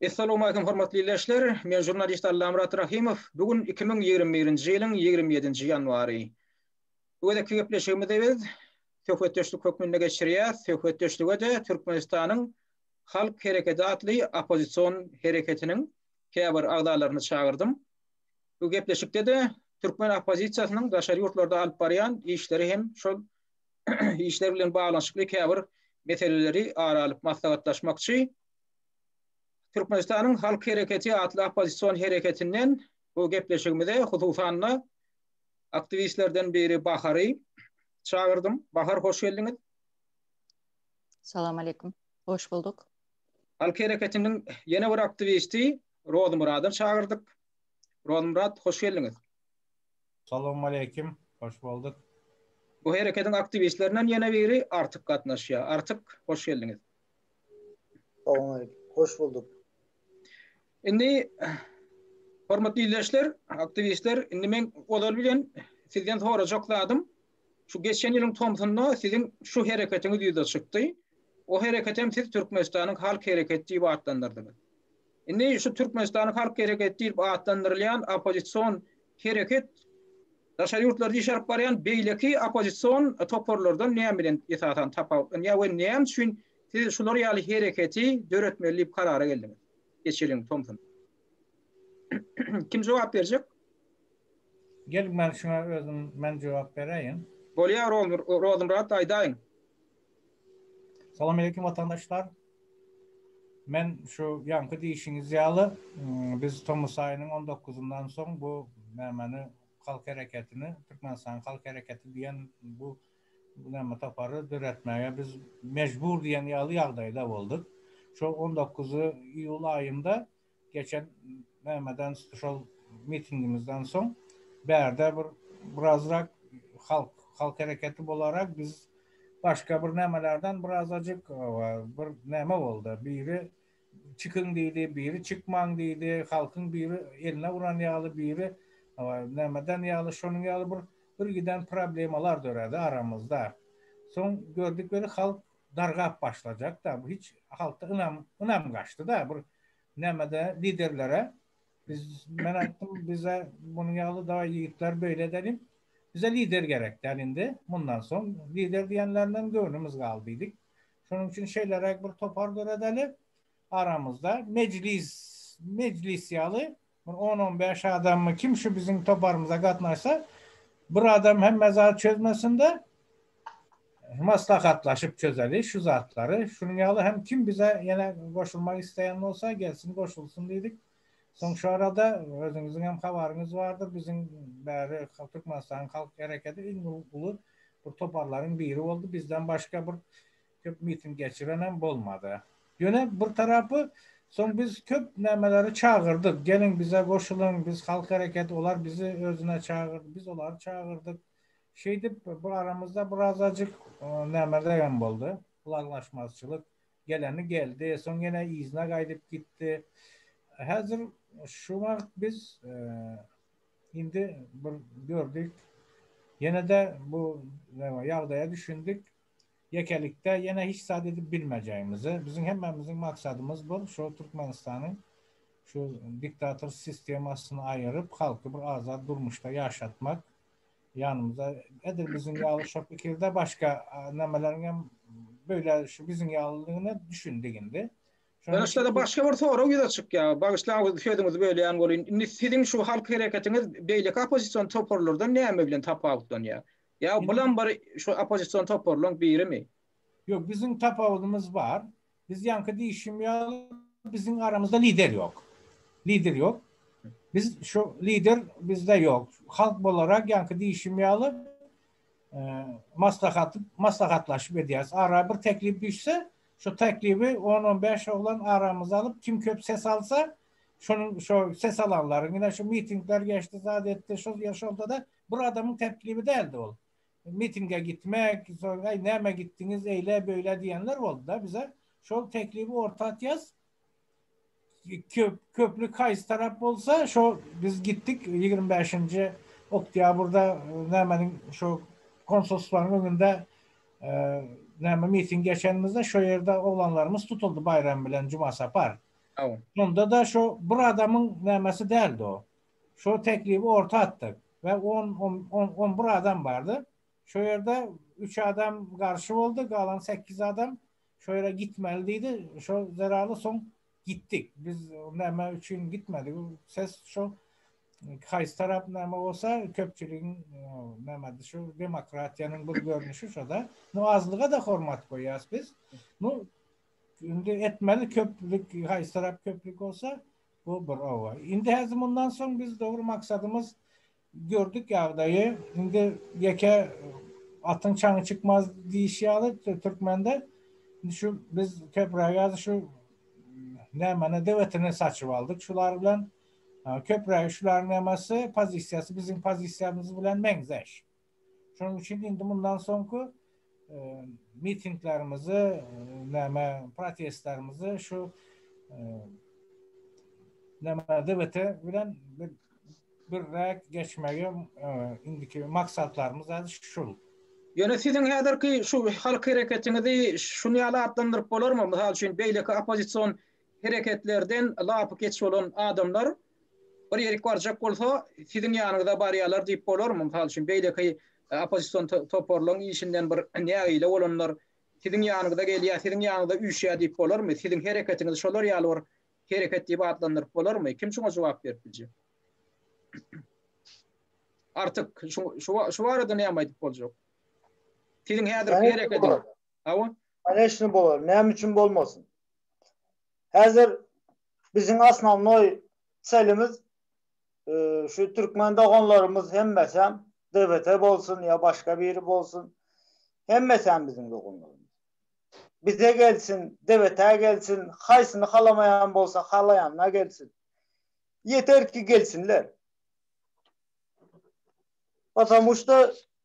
Essalowmalikim hormatly ildeşler, men žurnalist Allamyrat Rahymow, bu gün iki müň ýigrimi birinji ýylyň ýigrimi ýedinji ýanwary. Bu gezekki gepleşigimizi biz söhbetdeşlik hökmünde geçirýäs, söhbetdeşlige-de Türkmenistanyň Halk Hereketi atly oppozision hereketiniň käbir agzalaryny çagyrdym. Bu gepleşikde-de türkmen oppozisiýasynyň daşary ýurtlarda alyp barýan işleri hem şol işler bilen baglanyşykly käbir meseleleri ara alyp maslahatlaşmakçy. Türkmenistanyň Halk Hereketi atly oppozision hereketinden bu gepleşigimize hususan-da aktiwistlerden biri Bahary çagyrdym. Bahar hoş geldiňiz. Salam aleykum. Hoş bulduk. Halk Hereketiniň ýene bir aktiwisti Rozmurady çagyrdyk. Rozmurad hoş geldiňiz. Salowmaleýkim, hoş bolduk. Bu herekediň aktiwistlerinden ýene biri Artyk gatnaşýar. Artyk, hoş geldiňiz. Salowmaleýkim, hoş bolduk. Indi, hormatly ildeşler, aktiwistler, indi meň ozal bilen sizden sorajak zadym, şu geçen ýylyň tomsunda siziň şu hereketiňiz ýüze çykdy. O hereketem siz Türkmenistanyň halk hereketi diýip atlandyrdyňyz. Indi şu Türkmenistanyň Halk Hereketi diýlip atlandyrylýan oppozision hereket daşary ýurtlarda iş alyp barýan beýleki oppozision toparlardan näme bilen esasan tapawutlanýar we näme üçin siz şular ýaly hereketi döretmeli diýip karara geldiňiz? Geç geliň Tomson. Kim jogap berjek? Gel men şuňa özüm men jogap beräýin. Bolýar Rozenbrat aýdaýyň. Salam aleýkum watandaşlar. Men şu ýaňky diýişiňiz ýaly, biz tomus aýynyň on dokuzyndan soň bu nämeni, halk hereketini, Türkmenistanyň halk hereketi diýen bu näme topary döretmäge biz mejbur diýen ýaly ýagdaýda bolduk. Şo on dokuzy iýul aýynda Geçen BM-den şol mitingimizden soň bärde bir birazrak halk halk hereketi bolarak biz başga bir nämelerden birazajyk bir näme boldy. Biri çykyň diýdi, biri çykmaň diýdi. Halkyň biri eline uran ýaly, biri nämeden ýaly, şonuň ýaly bir birgiden problemalar döredi aramyzda. Soň gördük weli halk dargap başlajakda bu hiç halkda ynam ynam gaçdyda bir nämede liderlere biz men aýtdym bize munuň ýaly da ýigitler beýle dedim bize lider gerek däl indi mundan soň lider diýenlerinden göwnümiz galdy diýdik şonuň üçin şeýleräk bir topar döredeli aramyzda mejlis mejlis ýaly Bir on-on bäş adammy kim şu biziň toparymyza gatnaşsa, bir adam hemme zady çözmesin-de, maslahatlaşyp çözeli şu zatlary. Şunuň ýaly hem kim bize ýene goşulmak isleýän bolsa, gelsin goşulsyn diýdik. Soň şu arada özüňiziň hem habaryňyz bardyr, biziň bäri Türkmenistanyň Halk Hereketi iň uly bir toparlaryň biri boldy. Bizden başga bir Köp miting geçirenem bolmady. Ýöne bir tarapy soň biz köp nämeleri çagyrdyk. Geliň bize goşulyň, biz halk hereketi, olar bizi özüne çagyrdy, biz olary çagyrdyk. Şeýdip bir aramyzda birazajyk nämeregem boldy, ylalaşmazçylyk. Geleni geldi, soň ýene yzyna gaýdyp gitdi. Häzir şu wagt biz indi bir gördük, ýene-de bu ýagdaýa düşündik. Ýekelikde ýene hiç zat edip bilmejegimizi, biziň hemmämiziň maksadymyz bir şu Türkmenistany şu diktator sistemasyny aýyryp, halky bir azat durmuşda ýaşatmak. Ýanymyzda edil biziň ýaly şo pikirde başga nämeleriň hem beýle şu biziň ýalydygyna düşündik indi. Ýöne şeýle başga bir sorag ýüze çykýar. Bagyşlaň sözüňizi bölýän bolýyn. Indi siziň şu halk hereketiňiz beýleki oppozision toparlardan näme bilen tapawutlanýar? Ýa bulam bir şu oppozision toparlaryň birimi? Ýok, biziň tapawudymyz bar. Biz ýaňky diýişim ýaly, biziň aramyzda lider ýok. Lider ýok. Biz şu lider bizde ýok. Halk bolarak ýaňky diýişim ýaly, maslahaty maslahatlaşyp edýäris. Ara bir teklip düşse, şu teklibi on-on bäş oglan aramyza alyp, kim köp ses alsa, şonuň şo ses alanlaryň ine şu mitingler geçdi, zat etdi, şol ýer şolda-da Bir adamyň teklibi däldi ol. Mitinge gitmek, soň äý näme gitdiňiz eýle beýle diýenler boldy-da bize. Şol teklibi orta atýas. Köp, köplük haýsy tarap bolsa şo biz gitdik ýigrimi bäşinji oktýabrda nämeniň şo konsulstwanyň öňünde näme miting geçenimizde şo ýerde oglanlarymyz tutuldy Baýram bilen Jumasapar. Şonda-da şo bir adamyň nämesi däldi o. Şo teklibi orta atdyk we on, on bir adam bardy. Şo ýerde üç adam garşy boldy, galan sekiz adam şo ýere gitmeli diýdi. Şo zerarly soň gitdik. Biz näme üçin gitmedik? Ses şo haýsy tarap näme bolsa köpçüligiň näme şu demokratiýanyň bir görnüşi şo-da. Nu azlyga-da hormat goýýas biz. Nu indi etmeli köplük haýsy tarap köplük bolsa Bu bir oba. Indi häzir mundan soň biz dogry maksadymyz gördük ýagdaýy. Indi ýeke atyň çaňy çykmaz diýiş ýaly türkmende. Indi şu biz köprägi häzir şu nämana dewetini saçyp aldyk şular bilen. Köprägi şularyň nämäsi pozisiýasy biziň pozisiýamyz bilen meňzeş. Şonuň üçin indi mundan soňky mitinglerimizi, näme, protestlerimizi şu näme DBT bilen birräk geçmegi indiki maksatlarymyz häzir şul. Ýöne siziň häzirki şu halk hereketiňizi şuny ýaly atlandyryp bolarmy? Mysal üçin beýleki oppozision hereketlerden lapykeç bolan adamlar bir ýerik barjak bolsa, siziň ýanyňyza barýarlar diýip bolarmy? Mysal üçin, beýleki oppozision toparlaryň işinden bir nägile bolanlar siziň ýanyňyza gelýär, siziň ýanyňyza üýşýär diýip bolarmy? Siziň hereketiňizi şolar ýaly bir hereket diýip atlandyryp bolarmy? Kim şuňa jogap berip biljek? Artyk, şu barada näme aýdyp boljak? Siziň häzirki hereketiňiz. Hawa. Koneşni bolar. Näme üçin bolmasyn? Häzir biziň asnawnoý çelimiz şu türkmen doganlarymyz hemmesem DBT bolsun ýa başga biri bolsun. Hemmesem biziň doganlarymyz. Bize gelsin, DBT gelsin, haýsyny halamaýan bolsa halaýanyna gelsin. Ýeter ki gelsinler. Patamuşda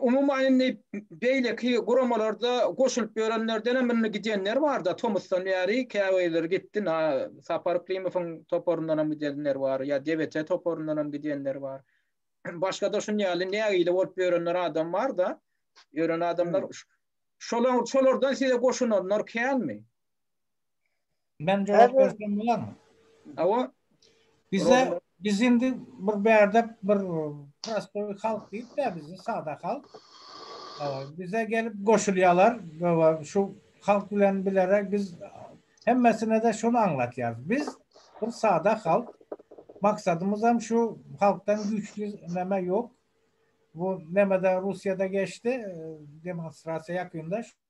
Umuman indi beýleki guramalarda goşulyp ýörenlerdenem indi gidenler bar-da, tomusdan bäri käbirleri gitdi. Sapar Yklimowyň toparyndanam gidenler bar, ýa DBT toparyndanam gidenler bar. Başga-da şunuň ýaly nägile bolup ýörenler adam bar-da, ýören adamlar. Şolar, şolardan size goşulanlar känmi? Men jogap bersem bolarmy? Hawa. Bize biz indi bir bärde bir prostoý halk diýip-de bizi sada halk. Bize gelip goşulýarlar we şu halk bilen bilerek biz hemmesine-de şuny aňlatýarys. Biz bir sada halk. Maksadymyz hem şu halkdan güýçli näme ýok. Bu näme-de Russiýada geçdi demonstrasiýa ýakynda.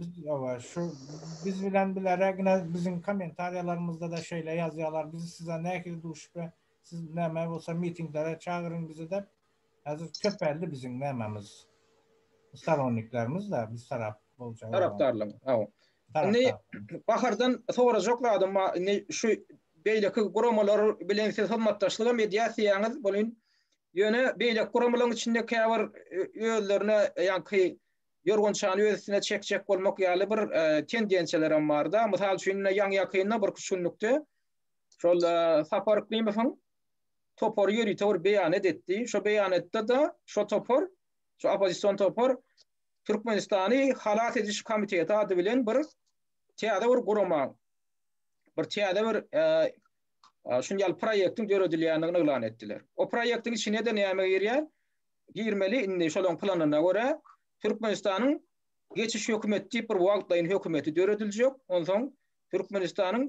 Biz ýa-da şu biz bilen bilerägine biziň kommentariýalarymyzda-da şeýle ýazýarlar, biz size nähili duşup we siz näme bolsa mitinglere çagyryň bizi dep. Häzir köpeldi biziň nämemiz, storonniklerimiz-de biz tarap boljak adam. Tarapdarlaryň, hawa. Indi Tarapdarlaryň. Bahardan sorajak zadym bar, indi şu beýleki guramalar bilen siz hyzmatdaşlygam edýärsiýäňiz welin, ýöne beýleki guramalaryň içinde käbir özlerine ýaňky ýorgançany öz üstüne çekjek bolmak ýaly bir tendensiýalarem barda. Mysal üçin, ine ýaňy-ýakynda bir iki günlükde şol Sapar Yklymowyň topary ýörite bir beýanat etdi. Şo beýanatda-da şo topar, şo oppozision topar Türkmenistany halas ediş komiteti ady bilen bir täze bir gurama, bir täze bir şuny ýaly proýektiň döredilýändigini yglan etdiler. O proýektiň içine-de näme girýär? girmeli indi şolaň planyna görä Türkmenistanyň geçiş hökümeti diýip bir wagtlaýyn hökümeti dörediljek onsoň Türkmenistanyň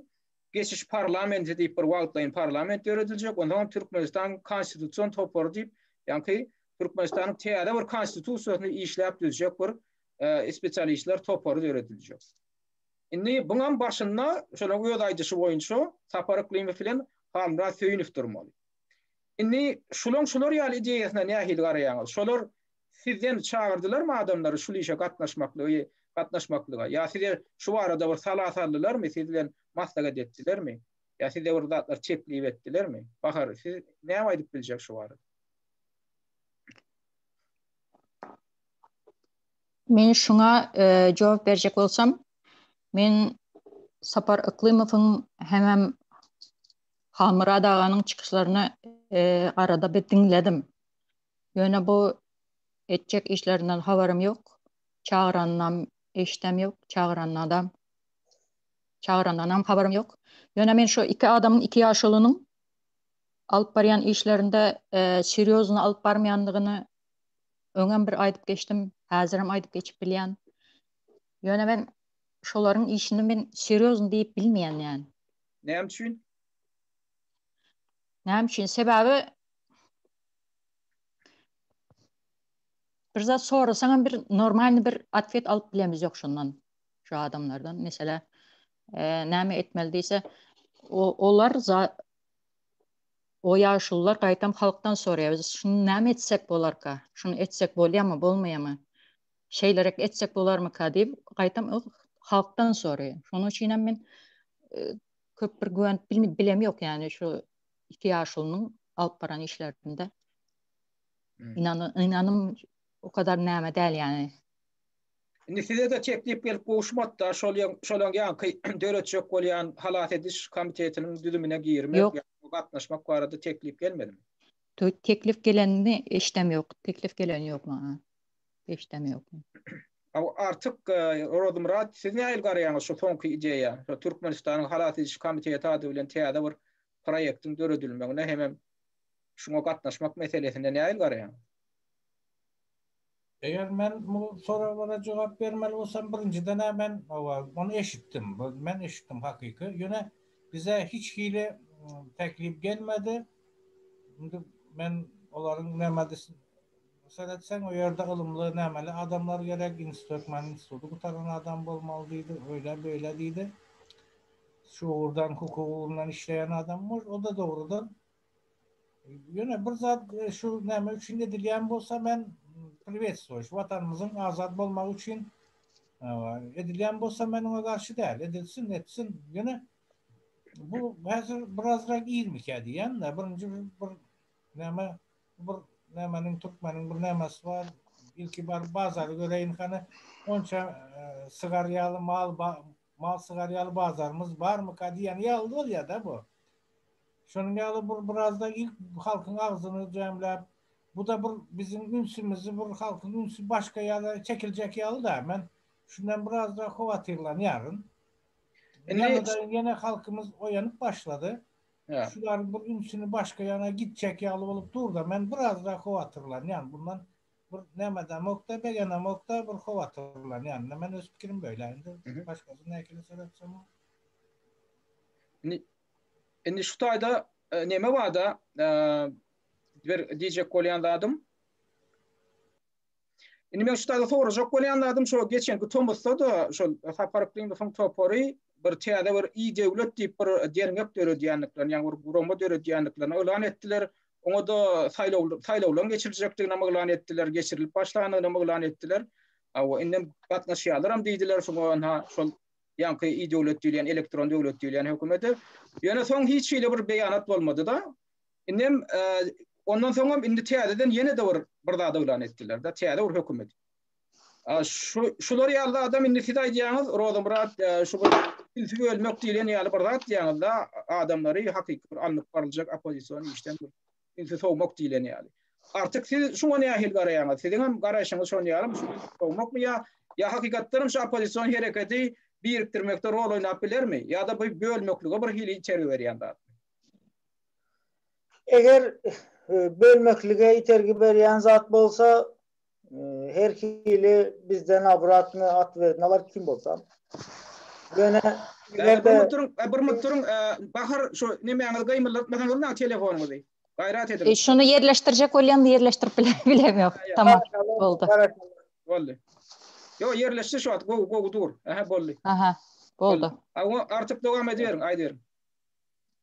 geçiş parlamenti diýip bir wagtlaýyn parlament dörediljek onsoň Türkmenistan konstitusion topary diýip ýaňky Türkmenistanyň täze bir konstitusiýasyny işläp düzjek bir e, spesialistler topary dörediljek. Indi buňam başynda şonuň öz aýdyşy boýunça Sapar Yklymow bilen Halmyrat Söýünow durmaly. Indi şulaň şular ýaly ideýasyna nähili garaýaňyz? Şolar sizden çagyrdylarmy adamlary şul işe gatnaşmaklygy gatnaşmaklyga? Ýa size şu barada bir sala saldylarmy, siz bilen maslahat etdilermi? Ýa size bir zatlar teklip etdilermi? Bahar, siz näme aýdyp biljek şu barada? Men şuňa jogap berjek bolsam, men Sapar Yklymowyň hemem Halmyrat aganyň çykyşlaryny arada bir diňledim. Ýöne bu etjek işlerinden habarym ýok. Çagyranynam eşdem ýok, çagyranyna da çagyranynam habarym ýok. Ýöne men şu iki adamyň, iki ýaşulynyň alyp barýan işlerinde serýozny alyp barmaýandygyny öňem bir aýdyp geçdim, häzirem aýdyp geçip bilýän. Ýöne men şolaryň işini men serýozny diýip bilmeýän ýaly. Näme üçin? Näme üçin? Sebäbi bir zat sorasaň hem bir normalny bir atwet alyp bilemiz ýok şondan. Şu adamlardan mesela e, näme etmeli diýse olar o ýaşullar gaýtam halkdan soraýar. Biz şuny näme etsek bolarka? Şuny etsek bolýarmy, bolmaýarmy? şeýlerek etjek bolarmyka diýip, gaýtam halkdan soraýan. Şonuň üçin hem men e, köp bir güwenip bilem ýok, ýani şu iki ýaşulynyň alyp baran işlerinde. Hmm. Inanam, inanym o kadar näme däl ýani. Indi size de teklip gelip gowuşmakda, şol şolaň ýanky döretjek bolýan halas ediş komitetiniň düzümine girmek, ýa gatnaşmak barada teklip gelmedimi? Teklip gelenini eşdem ýok. Teklip gelen ýok maňa. Eşdem ýok. Hawa artyk Rozmyrat siz nähili garaýaňyz şu soňky ideýa? Şu Türkmenistanyň halas ediş komiteti ady bilen täze bir proýektiň döredilmegine hemem şuňa gatnaşmak meselesine nähili garaýaňyz? Eger men bu soraglara jogap bermeli bolsam birinjiden-ä men hawa ony eşitdim. Bu men eşitdim hakyky. Ýöne bize hiç hili teklip gelmedi. Indi men olaryň näme diýsin Seretseň o ýerde ylymly, nämeli adamlar gerek, ins Türkmen instituty gutaran adam bolmaly diýdi, öýle beýle diýdi. Şu ugurdan hukuk ugrundan işleýän adam bor, o da dogrudan Ýöne bir zat şu näme üçin edilýän bolsa men priwetstwoýuş watanymyzyň azat bolmagy üçin edilýän bolsa men oňa garşy däl, edilsin, etsin. Ýöne bu häzir birazrak irmikä diýýän-de, birinji bir näme Bir nämeniň türkmeniň bir nämesi bar, ilki baryp bazary göreýin hany, onça sygar ýaly mal mal sygar ýaly bazarymyz barmyka diýen ýaly bolýa-da bu. Şonuň ýaly bir biraz-da ilk halkyň agzyny jemläp, bu-da bir biziň ünsümizi bir halkyň ünsi başga ýere çekiljek ýaly-da. Men şundan biraz-da howatyrlanýaryn. Ýene halkymyz oýanyp başlady. Şular bir ünsüni başga ýana gitjek ýaly bolup dur-da, men biraz-da howatyrlanýan. Bundan bir nämedemok-da, begenemok-da, bir howatyrlanýan. Men öz pikirim beýle. Indi başgasy näkile seretsemok. Indi şu taýda neme bar-da, bir diýjek bolýan zadym. Indi men şu taýda sorajak bolýan zadym şo geçenki tomusda-da şol Sapar Yklymyň topary bir täze bir i-döwlet diýip bir derňek döredýändiklerini, ýagny bir gurama döredýändiklerini yglan etdiler. Oňa-da saýlaw saýlawlaryň geçiriljekdigini yglan etdiler, geçirilip başlandygyny yglan etdiler. Hawa, indi gatnaşýarlaram diýdiler şoňa ynha şol ýaňky i-döwlet diýilýän, elektron döwlet diýilýän hökümete. Ýöne soň hiç hili bir beýanat bolmady-da. Indem ondan soňam indi täzeden ýene-de bir bir zat yglan etdiler-de, täze bir hökümet. A şu şular ýaly adam indi siz aýdýaňyz, Rozamyrat, şu bir tilsi bölmek diýlen ýaly bir zat diýýäňiz-de, adamlary hakyky bir alnyp baryljak oppozision işden tilsi sowmak diýlen ýaly. Artyk siz şuňa nähili garaýaňyz? Siziň hem garaýşyňyz şoň ýalymy? Şuňa sowmakmy ýa ýa hakykatdanam şu oppozision hereketi birikdirmekde rol oýnap bilermi? Ýa-da bu bölmeklige bir hili itergi berýän zat? Eger bölmeklige itergi berýän zat bolsa, her hili bizden obratny at berdi. Nabar kim bolsa. Ýöne eger de bir minut duruň, Bahar şu nemäňizi gymyldatmasaňyz maňa telefonyňyzy. Gaýrat ediň. Şuny ýerleşdirjek bolýan ýerleşdirip bilem ýok. Tamam boldy. Boldy. Ýok ýerleşdi şu wagt gowy gowy dur. Aha boldy. Aha boldy. Artyk dowam ediberiň aýdyberiň.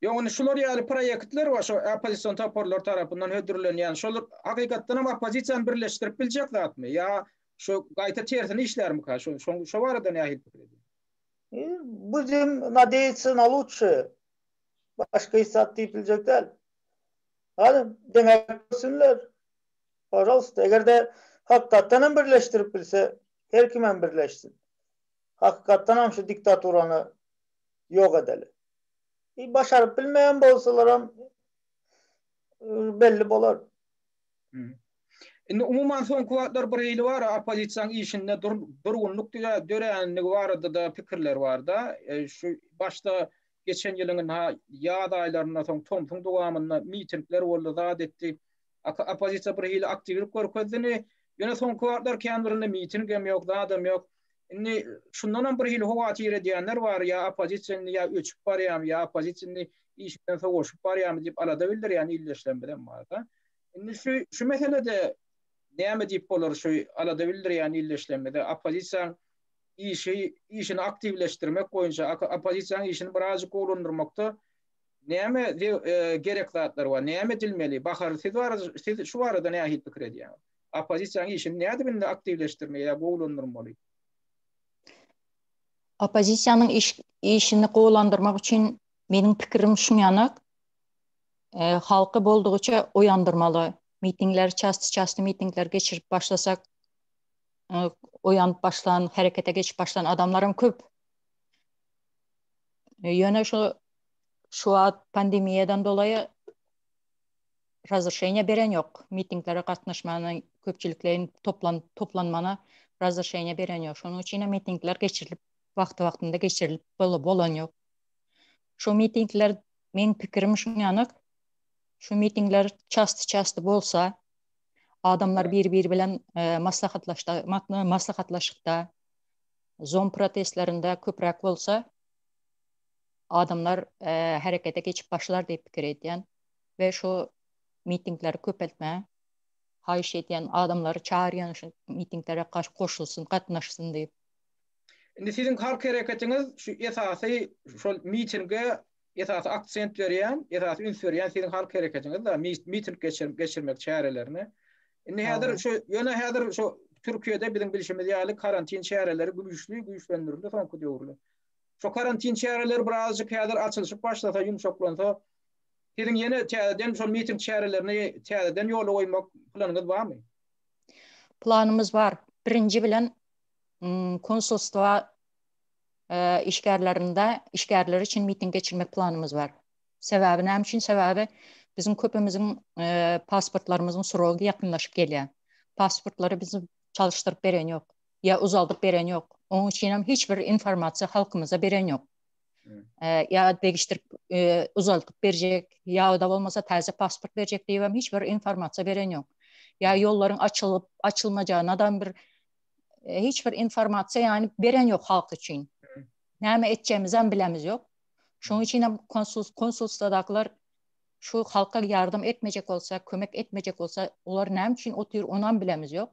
Ýok, indi şular ýaly proýektler we şu oppozision toparlar tarapyndan hödürlenýän şol hakykatdan hem oppozisiýany birleşdirip biljek zatmy? Ýa şu gaýta tersine işlärmika? Şu şo barada nähili pikir edýäň? Budim nadeýatsy na lutşe. Başga hiç zat diýip biljek däl. Hany, deňäp görsünler. Pažalsta, eger-de hakykatdan hem birleşdirip bilse, her kimem birleşsin. Hakykatdan hem şu diktaturany ýok edeli. I başaryp bilmeýän bolsalaram belli bolar. Indi umuman soňky wagtlar bir hili bar oppozisiýaň işinde dur durgunlyk diýä döränligi barada-da pikirler barda. Şu başda geçen ýylyň ynha ýaz aýlarynda soň tomsuň dowamynda mitingler boldy zat etdi. Oppozisiýa bir hili aktiwlik görkezdini. Ýöne soňky wagtlar kän birinde mitingem ýok zadam ýok. Indi şundan hem birhili howatyr edýänler bar, ýa oppozisiýa indi ýa öçüp barýamy, ýa oppozisiýa indi işinden sowaşyp barýamy diýip alada bildirýän ildeşlerimizem bar-da. Indi şu şu meselede näme diýip bolar şu alada bildirýän ildeşlerimize oppozisiýaň işi işini aktiwleşdirmek boýunça oppozisiýaň işini birazjyk gowulandyrmakda näme e, gerek zatlar bar, näme edilmeli? Bahar siz bar, siz şu barada nähili pikir edýäňiz? oppozisiýanyň işini nädibinde aktiwleşdirmeli ýa gowulandyrmaly? Oppozisiýanyň işini gowulandyrmak üçin meniň pikirim şuň ýanak, halky boldugyça oýandyrmaly. Mitingleri çasty-çasty mitingleri geçirip başlasak, oýanyp başlan, herekete geçip başlan adamlaram köp. Ýöne şu şu wagt pandemiýadan dolaýy razryşeniýa beren ýok. Mitinglere gatnaşmana, köpçülikleýin toplan toplanmana razryşeniýa beren ýok. Şonuň üçin hem mitingler geçirilip, wagty-wagtynda geçirilip bol bolan ýok. Şu mitingler, meň pikirim şuň ýaly, şu mitingler çasty-çasty bolsa, adamlar biri-biri bilen maslahatlaşda maslahatlaşykda, Zoom protestlerinde köpräk bolsa, adamlar herekete geçip başlar diýip pikir edýän. we şu mitingleri köpeltme haýyş edýän adamlary çagyrýan şu mitingleri goşulsyn gatnaşsyn diýip. Indi siziň halk hereketiňiz şu esasy şol mitinge esasy aksent berýän esasy üns berýän siziň halk hereketiňiz da miting geçirip geçirmek çärelerine indi häzir şu ýöne häzir şu Türkiýede biziň bilşimiz ýaly karantin çäreleri güýçli güýçlendirildi soňky döwürler. Şu karantin çäreleri birazjyk häzir açylyşyp başlasa ýumşaklansa Siziň ýene täzeden şol miting çärelerini täzeden ýola goýmak planyňyz barmy? Planymyz bar. Birinji bilen konsulstwa işgärlerinde işgärleri üçin miting geçirmek planymyz bar. Sebäbi näme üçin? Sebäbi biziň köpimiziň pasportlarymyzyň srogy ýakynlaşyp gelýär. Pasportlary biz çalyşdyryp beren ýok. Ýa uzaldyp beren ýok. Onuň üçin hem hiç bir informasiýa halkymyza beren ýok. ýa degişdirip uzaldyp berjek ýa-da bolmasa täze pasport berjek diýip hem hiç bir informasiýa beren ýok. Ýa ýollaryň açylyp açylmajagyna da bir hiç bir informasiýa ýany beren ýok halk üçin. Näme etjegimizi hem bilemiz ýok. Şonuň üçin hem konsul konsulstadakylar şu halka ýardam etmejek bolsa, kömek etmejek bolsa, olar näme üçin otyr, ony hem bilemiz ýok.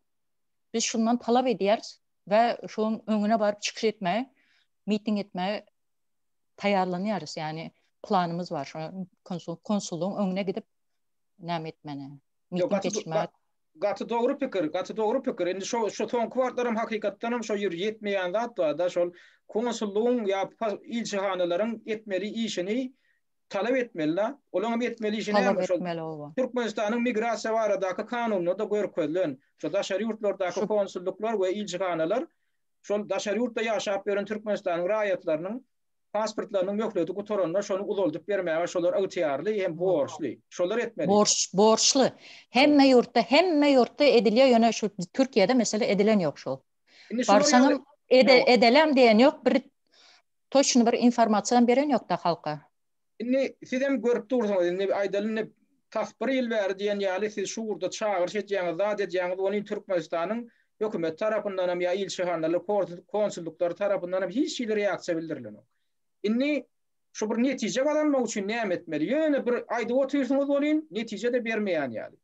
Biz şundan talap edýäris we şoň öňüne baryp çykyş etmäge miting etmäge taýýarlanýarys, ýagny planymyz bar, şo konsul konsullygyň öňüne gidip näme etmäne. Miting geçirmäge. Gaty dogry pikir, gaty dogry pikir. Indi şo şo soňky wagtlar hem hakykatdan hem şo ýer ýetmeýän zat barda, şol konsullygyň ýa ilçihanalaryň etmeli işini talap etmeli-de, olaň hem etmeli işi näme şol? Türkmenistanyň migrasiýa baradaky kanunynda-da görkezilen, şo daşary ýurtlardaky konsullyklar we ilçihanalar şol daşary ýurtda ýaşap ýören Türkmenistanyň raýatlarynyň pasportlarynyň möhleti gutaranda şony uzaldyp bermäge şolar ygtyýarly hem borçly. Şolar etmeli. Borç, borçly. Hemme ýurtda, hemme ýurtda edilýär, ýöne şu Türkiýede mesele edilen ýok şu. Indi şular ýaly, Barsaňam edä, edälem diýen ýok, bir toçny bir informasiýam beren ýok-da halka. Indi sizem görüp dursuňyz, indi aýdaly indi tas bir ýyl bäri diýen ýaly siz şu ugurda çagyryş edýäňiz, zat edýäňiz, ony indi Türkmenistanyň hökümeti tarapyndanam ýa ilçihanalar, konsullyklary tarapyndanam hiç hili reaksiýa bildirilenok. Indi şu bir netije gazanmak üçin näme etmeli? Ýöne bir aýdyp otyrsyňyz welin, netije-de bermeýän ýaly.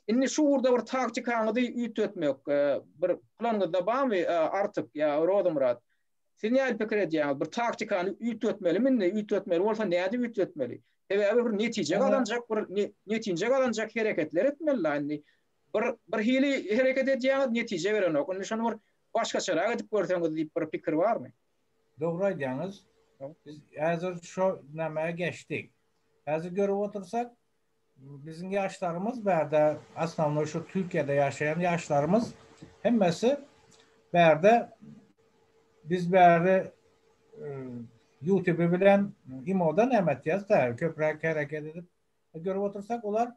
Indi şu ugurda bir taktikaňyzy üýtgetmek bir planyňyzda barmy Artyk ýa Rozymyrat? Siz nädip pikir edýäňiz? Bir taktikany üýtgetmelimi indi? Üýtgetmeli bolsa nädip üýtgetmeli? Sebäbi bir netije gazanjak bir netinje gazanjak hereketler etmeli-la indi. Bir bir hili hereket edýäňiz, netije berenok. Indi şony bir başgaçarak edip görseňiz diýip bir pikir barmy? Dogry aýdýaňyz. Biz häzir şo nämä geçdik. Häzir görüp otursak, Biziň ýaşlarymyz bärde asnawnoý şu Türkiýede ýaşaýan ýaşlarymyz hemmesi bärde biz bäri ýutuby bilen imoda näme etýäs da köpräk hereket edip görüp otursak olar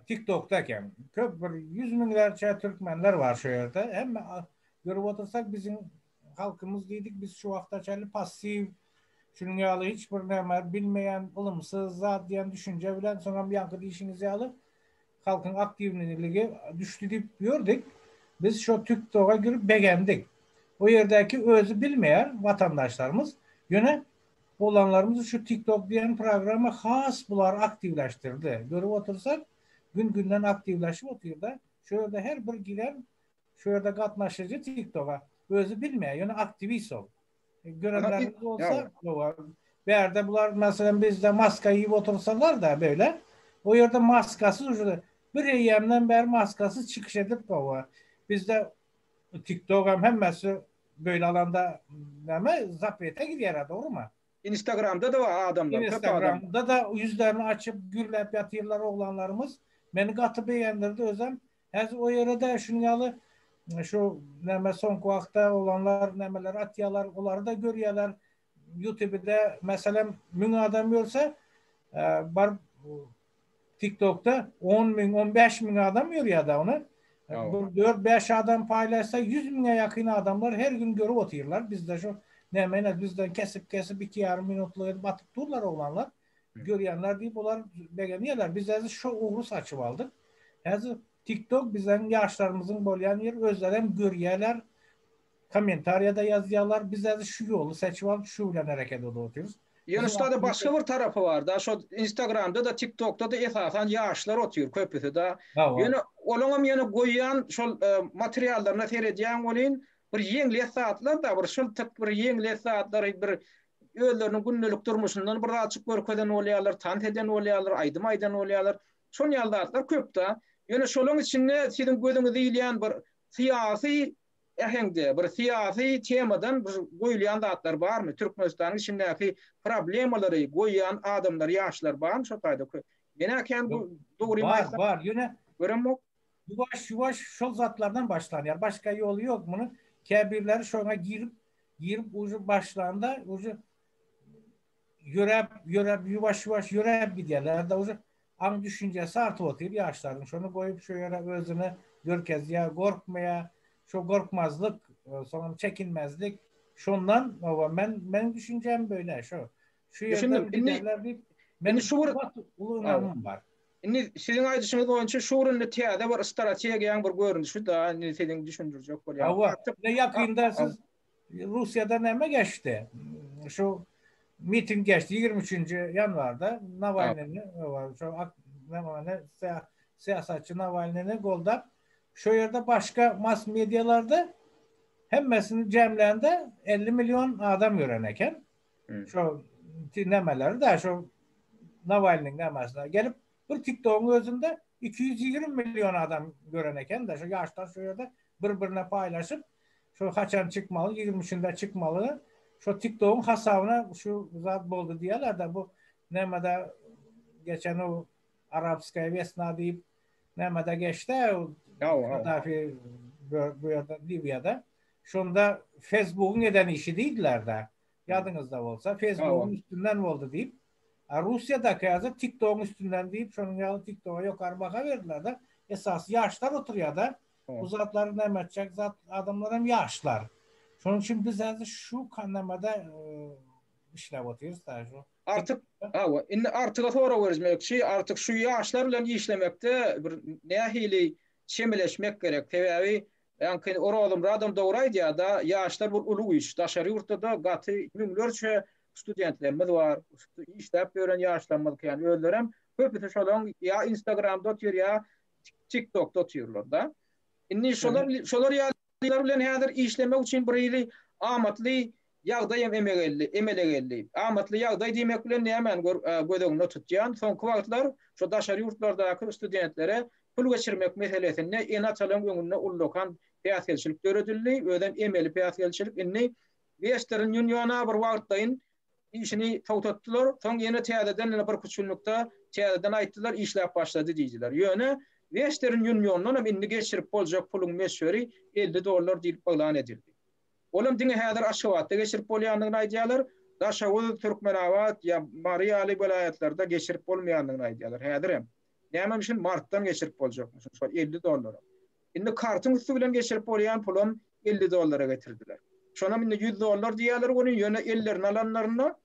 tiktokda eken köp bir ýüz müňlerçe türkmenler bar şu ýerde hemme görüp otursak biziň Halkymyz diýdik biz şu wagta çenli passiw, şunuň ýaly hiç bir näme bilmeýän, ylymsyz zat diýen düşünje bilen, soňam ýaňky diýşiňiz ýaly halkyň aktiwliligi düşdi diýip ýördik. Biz şo TikToga girip begendik. O ýerdäki özi bilmeýär watandaşlarymyz. Ýöne oglanlarymyzy şu TikTok diýen programma has bulary aktiwleşdirdi. Görüp otursak, gün-günden aktiwleşip otyr-da. Şo ýerde her bir giren Şu ýerde gatnaşyjy TikToga özi bilmeýär, ýöne aktiwist ol. Görenleriňiz bolsa, hawa. Bärde bular meselem bizde maska iýip otursalar-da beýle, o ýerde maskasyz uje bir eýýämden bäri maskasyz çykyş edip gowy. Bizde TikTogam hemmesi beýle alanda näme zaprete girýär-ä, dogrymy? Instagramda-da bar adamlar, köp adam. Instagramda-da ýüzlerini açyp gürläp ýatyrlar oglanlarymyz. Meni gaty begendirdi özem. Häzir o ýere de şunuň ýaly şu näme soňky wagtda oglanlar nämeler atýalar olary-da görýäler ýutubide meselem müň adam görse baryp tiktokda on müň on bäş müň adam görýä da ony bir dört bäş adam paýlaşsa ýüz müňe ýakyn adamlar her gün görüp otyrlar bizde şu näme bizden kesip kesip iki ýarym minutlyk edip atyp durlar oglanlar Görýänler diýip olar begenýärler. Biz häzir şo ugry saçyp aldyk. Häzir TikTok biziň ýaşlarymyzyň bolýan ýeri, özleri hem görýärler, kommentariýada ýazýarlar. Biz häzir şu ýoly seçip alyp, şu bilen hereket edip otyrys. Ýöne şuda-da başga bir tarapy bar-da, şo Instagramda-da, TikTokda-da esasan ýaşlar otyr köpüsi-de. Ýöne olaň hem ýöne goýýan şol materiallaryna seredýäň welin, bir ýeňlet zatlar-da, bir şyltyk, bir ýeňlet zatlary, bir özleriniň gündelik durmuşyndan bir zatjyk görkezen bolýarlar, tans eden bolýarlar, aýdym aýdan bolýarlar. Şol ýaly zatlar köp-de. Ýöne şolaryň içinde siziň gözüňizi ilýän bir syýasy äheňde, bir syýasy temadan bir goýulýan zatlar barmy? Türkmenistanyň içindäki problemalary goýýan adamlar, ýaşlar barmy şol taýda? Men-ä kän dogrymy aýtsam. Bar, bar. Ýöne. Göremok. Ýuwaş ýuwaş şol zatlardan başlanýar. Başga ýoly ýok munuň. Käbirleri şoňa girip, girip uje başlanda uje ýöräp, ýöräp ýuwaş ýuwaş ýöräp gidýärler. Da uje aň düşünjesi artyp otyr ýaşlaryň. Şony goýup şu ýere özüne görkezýär, gorkmaýar. Şo gorkmazlyk, e, soňam çekinmezlik. Şondan oba men meniň düşünjem böyle şo. Şu ýerde giderler diýip, meniň şu bir uly ynamym bar. Indi siziň aýdyşyňyz boýunça şu günde täze bir strategiýaň bir görnüşi-de indi siziň düşündirjek bolýan. Hawa, indi ýakynda siz Russiýada näme geçdi? Şu miting geçdi ýigrimi üçünji ýanwarda Nawalnyny, şu syýasatçy Nawalnyny goldap, şu ýerde başga mass medialarda hemmesini jemlände elli million adam gören eken. Şo nemeleri da şo Nawalnyň namasyna gelip bir TikTokyň özünde 220 million adam gören eken da şo ýaşlar şo ýerde bir-birine paýlaşyp şo haçan çykmaly 23-nde çykmaly şo TikTokyň hasabyna şu zat boldy diýýärler da bu nämede geçen o arabskaya wesna diýip nämede geçdi Gaddafi bu ýerde Liwiýada Şonda Fesbugyň eden işi diýdiler-dä. Ýadyňyzda bolsa, Fesbugyň üstünden boldy diýip. A Russiýadaky häzir TikTogyň üstünden diýip, şonuň ýaly TikToga ýokary baha berdiler-de. Esasy ýaşlar oturýar-da. Bu zatlary näme etjek zat, adamlar hem ýaşlar. Şonuň üçin biz häzir şu kanamada işläp otyrys-da. Artyk, hawa, indi Artyga sorag berjmekçi. Artyk, şu ýaşlar bilen işlemekde bir nähili çemeleşmek gerek? Sebäbi Ýaňky Orazym radom dogry aýdýarda ýaşlar bul uly güýç daşary ýurtdada gaty müňlerçe studentlerimiz bar işläp ýören ýaşlarymyz kän özlerem köpüsi şolaň ýa instagramda otyr ýa tik tokda otyrlarda indi şolar şolar ýalylar bilen häzir işlemek üçin birhili amatly Ýagdaýam emegelli, emelegelli. Amatly ýagdaý diýmek bilen nämäni gör, göz öňünde tutýan? Soňky wagtlar şu daşary ýurtlardaky studentlere pul geçirmek meselesinde ene-atalaryň öňünde ullakan päsgelçilik döredildi, özem emeli päsgelçilik. Indi Western Union-a bir wagtlaýyn işini togtatdylar, soň ýene täzeden ýene birki üç günlükde täzeden aýtdylar, işläp başlady diýdiler. Ýöne Western Union-dan hem indi geçirip boljak puluň möçberi elli dollar diýlip yglan edildi. Olam diňe häzir Aşgabatda geçirip bolýandygyny aýdýarlar, Daşoguz, Türkmenabat ýa Mary ýaly welaýatlarda geçirip bolmaýandygyny aýdýarlar häzirem. Näme üçin martdan geçirip boljakmyşyn şol elli dollaram. Indi kartyň üsti bilen geçirip bolýan pulam elli dollara getirdiler. Şonam indi ýüz dollar diýýärler welin ýöne ellerine alanlarynda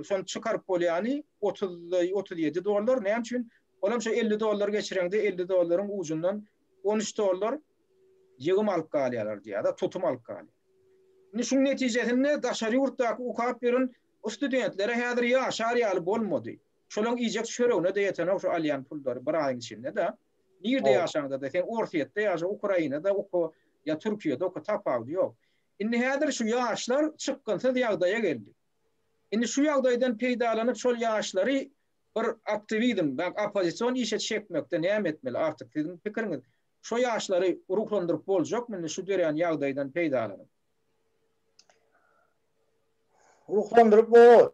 Şony çykaryp bolýany otuz otuz ýedi dollar. Näme üçin? Ol hem şo elli dollar geçireňde elli dollaryň ujundan on üç dollar ýygym alyp galýarlar diýýär-de, tutum alyp galýar. Indi şuň netijesinde daşary ýurtdaky okap ýören studentlere häzir ýaşar ýaly bolmady. Şolaryň iýjek çöregine-de ýetenok şu alýan pullary bir aýyň içinde-de. Nirde ýaşaňda-da, sen Orsýetde ýaşa, Ukrainada oka ýa Türkiýede oka, tapawudy ýok. Indi häzir şu ýaşlar çykgynsyz ýagdaýa geldi. Indi şu ýagdaýdan peýdalanyp şol ýaşlary bir aktiwizm, oppozision işe çekmekde näme etmeli? Artyk siziň pikiriňiz, şo ýaşlary ruhlandyryp boljakmy indi şu dörän ýagdaýdan peýdalanyp? Ruhlandyryp bolar.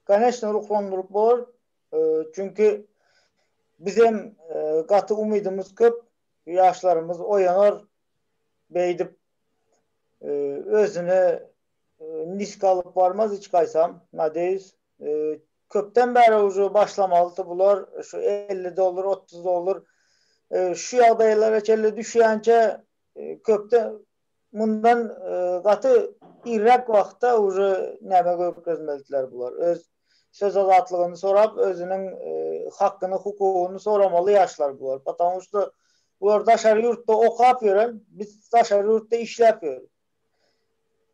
Koneçne ruhlandyryp bolar. Çünki bizem gaty umydymyz köp. Ýaşlarymyz oýanar, beýdip özüne nisk alyp barmaz hiç gaýsam nadeýus köpden bäri uje başlamalydy bular şu elli dollar otuz dollar şu ýagdaýlara çenli düşýänçe köpde mundan gaty irräk wagtda uje näme görkezmelidiler bular öz söz azatlygyny sorap özüniň hakyny hukugyny soramaly ýaşlar bular Потому что bular daşary ýurtda okap ýören biz daşary ýurtda işläp ýörüs